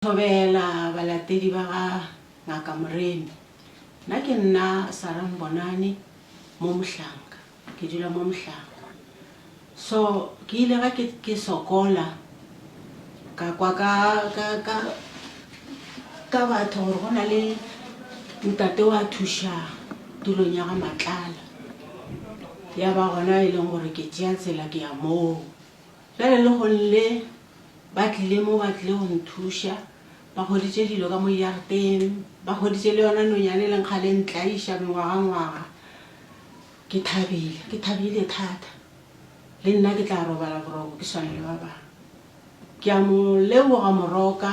Thobela balatedi ba ga Ngaka Moremi. Nna ke nna Sarah Mbonani mo Mohlanka. Ke dula mo Mohlanka. So ke ile ga ke ke sokola ka kwa ka ka ka ka batho gore go na le ntate wa thuša tulong ya ga Matlala. Ya ba gona e leng gore ke tšea tsela ke ya moo. Bjale lehono le, ba tlile mo ba tlile go nthuša, ba hweditše dilo ka mo jarteng, ba hweditše le yona nonyane e leng kgale e ntlaiša mengwagangwaga. Ke thabile, ke thabile thata. Le nna ke tla robala boroko ke swane le ba bangwe. Ke a mo leboga Moroka.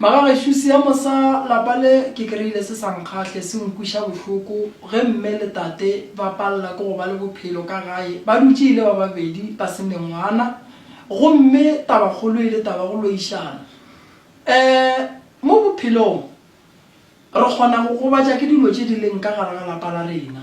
Magagešo seemo sa lapa le ke kry-ile se sa nkgahle, se nkweša bohloko ge mme le tate ba palela ke go ba le bophelo ka gae ba dutše e le ba babedi ba se mengwana gomme tabakgolo e le taba ya go loišana um mo bophelong. Re kgona go gobatša ke dilo tše di leng ka gare ga lapa la rena.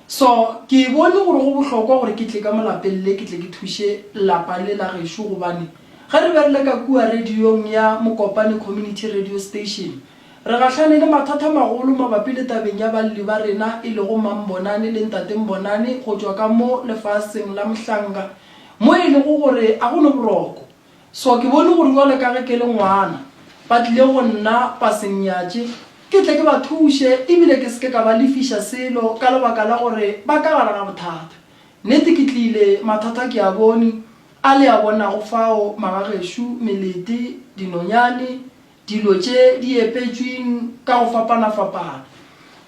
So, ke bone gore go bohlokwa gore ke tle ka mo lapeng le ke tle ke thuše lapa le la gešo gobane ge re be re le ka kua radiong ya Mokopane Community Radio Station, re gahlane le mathata a magolo mabapi le tabeng ya balli ba rena e lego Mambonani le Ntate Mbonani go tšwa ka mo lefaseng la Mhlanga mo e lego gore a go no boroko. So ke bone gore bjalo ka ge ke le ngwana, ba tlile go nna ba se nnyatše, ke tle ke ba thuše e bile ke se ke ka ba lefiša selo ka lebaka la gore ba ka gare ga bothata. Nnete ke tlile, mathata ke a bone, a le a bonago fao, magagešo, melete, dinonyane, Dilo tše di epetšwing ka go fapana-fapana.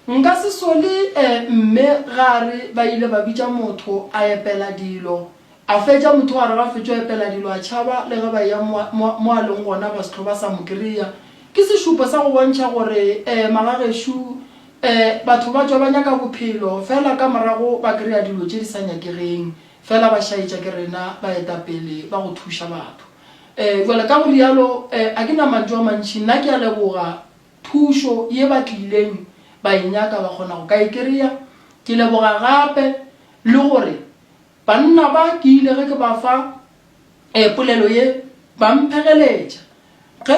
Nka se sole e mme ga a re ba ile ba bitša motho a epela dilo, a fetša motho a re ga fetšo epela dilo a tšhaba le ge ba eya mo a, mo, mo a leng gona ba se tlho ba sa mo kry-a. Ke sešupo sa go bontšha gore e magagešo e batho ba tšwa ba nyaka bophelo fela ka morago ba kry-a dilo tše di sa nyakegeng fela ba šaetša ke rena baetapele ba go thuša batho. Ee, bjale ka go rialo, ee, a ke na mantšu a mantši, nna ke a leboga thušo ye ba tlileng ba e nyaka, ba kgona go ka e kry-a. Ke leboga gape le gore banna ba ke ile ge ke ba fa ee polelo ye, ba mphegeletša. Ge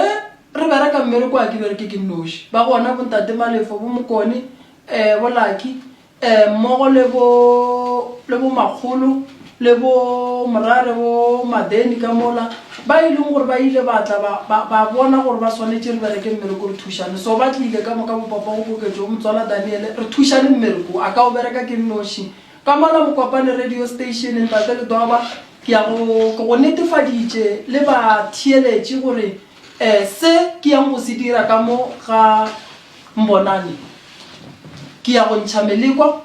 re bereka mmereko, a ke bereke ke nnoši, ba gona bo Ntate Malefo, bo Mokone, ee bo Lucky, E, mmogo le bo, le bo makgolo, le bo morare bo Madeni ka mola, ba e leng gore ba ile ba tla ba, ba, ba bona gore ba swanetše re bereke mmereko re thušane. So ba tlile ka moka bopapa go koketšo go Motswala Daniele, re thušane mmereko wo, a ka o bereka ke nnoši. Ka mola Mokopane Radio Station, Ntate Ledoba, ke ya go, ke go netefaditše le batheeletši gore, e, se ke yang go se dira ka mo ga, Mbonane. Ke ya go ntšha melekwa,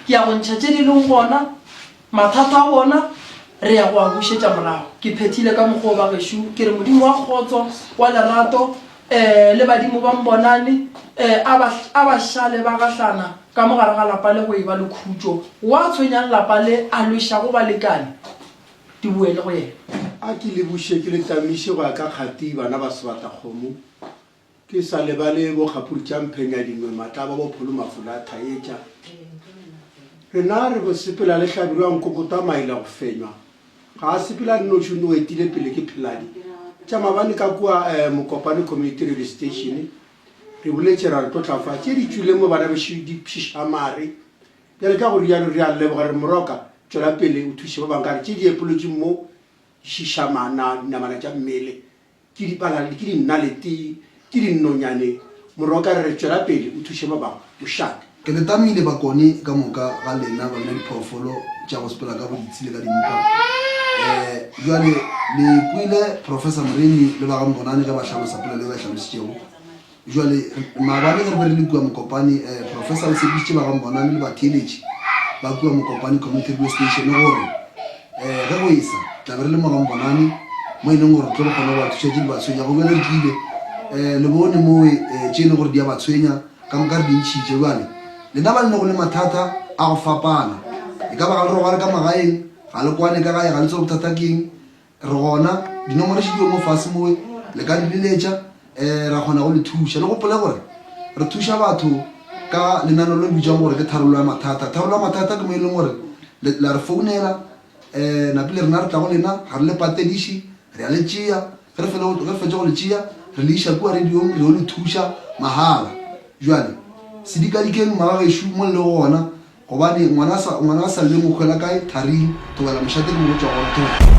ke ya go ntšha tše di lego gona, mathata a bona, re ya go a bušetša morago. Ke phethile ka mokgwa wo, bagešo. Ke re Modimo wa kgotso, wa lerato, ee, le badimo ba Mbonane, ee, a ba, a ba šale ba gahlana ka mo gare ga lapa le go eba le khutšo. Wa tshwenyang lapa le, a lwešago balekane, di boele go yena. A ke le buše, ke le tamiše go ya ka kgati, bana ba sebatakgomo, Ke sa lebale bo Kgapurutšamphenya-Dingwe, Matlaba, bo Pholo Mafula, Thaetša. Rena re go sepela le Hlabirwa wa Nkokotwa, Maila go fenywa. Ga a sepele a le noši, o nno o etile pele ke Pheladi. Tša mabane ka kua eh, Mokopane Community Radio Station. Re buletše ra re tlotla fa. Tše di tšwile mo bana bešo di pšiša mare. Bjale ka go rialo re a leboga re moroka tšwela pele o thuše ba bang ka re tše di epolotšwe mo di šiša mana dinamana tša mmele ke dipalale, ke dinalete, ke dinonyane, Morwa o ka re, Tšwela pele o thuše ba bangwe, o šale. Ke le tamile bakone ka moka ga lena ba bina diphoofolo tša go sepela ka boditsi le ka dimpa. Ee, bjale le kwele Professor Moremi le ba ga Mbonane ge ba hlalosa polelo e ba e hlalositšego. Bjale, maabane ge re be re le kua Mokopane, eh, Professor o tshepišitše ba ga Mbonane le batheeletši ba kua Mokopane Community Radio Station gore, eh, ge go esa, tla be re le mo ga Mbonane, mo e leng gore re tlo kgona go ba thuša tše di ba tshwenya. Go bjale re tlile, eh, le bone mowe, eh, tše e le gore di a ba tshwenya, ka moka re di ntšhitše. Bjale, lena ba lene go le mathata a go fapana, e ka ba ga le robale ka magaeng, ga le kwane ka gae, ga le tsebe bothata keng, Re gona, dinomoro še di yo mo fase mowe, le ka re biletša, um ra kgona go le thuša. Le gopole gore re thuša batho ka lenano le le bitšwang gore ke tharollo ya mathata. Tharollo ya mathata ke mo e leng gore le la re founela, um napile rena re tla go lena, ga re le patediše, re a le tšea, ge re fele ge re fetše go le tšea, re le iša kua radiong, re yo le thuša mahala. Bjale sedikadikeng, mmagagešo, mo le lego gona, Gobane ngwana a sa, ngwana a sa lle mokgwe la kae, tharing, thobela mošate ke mo go tšwa gona, thobela.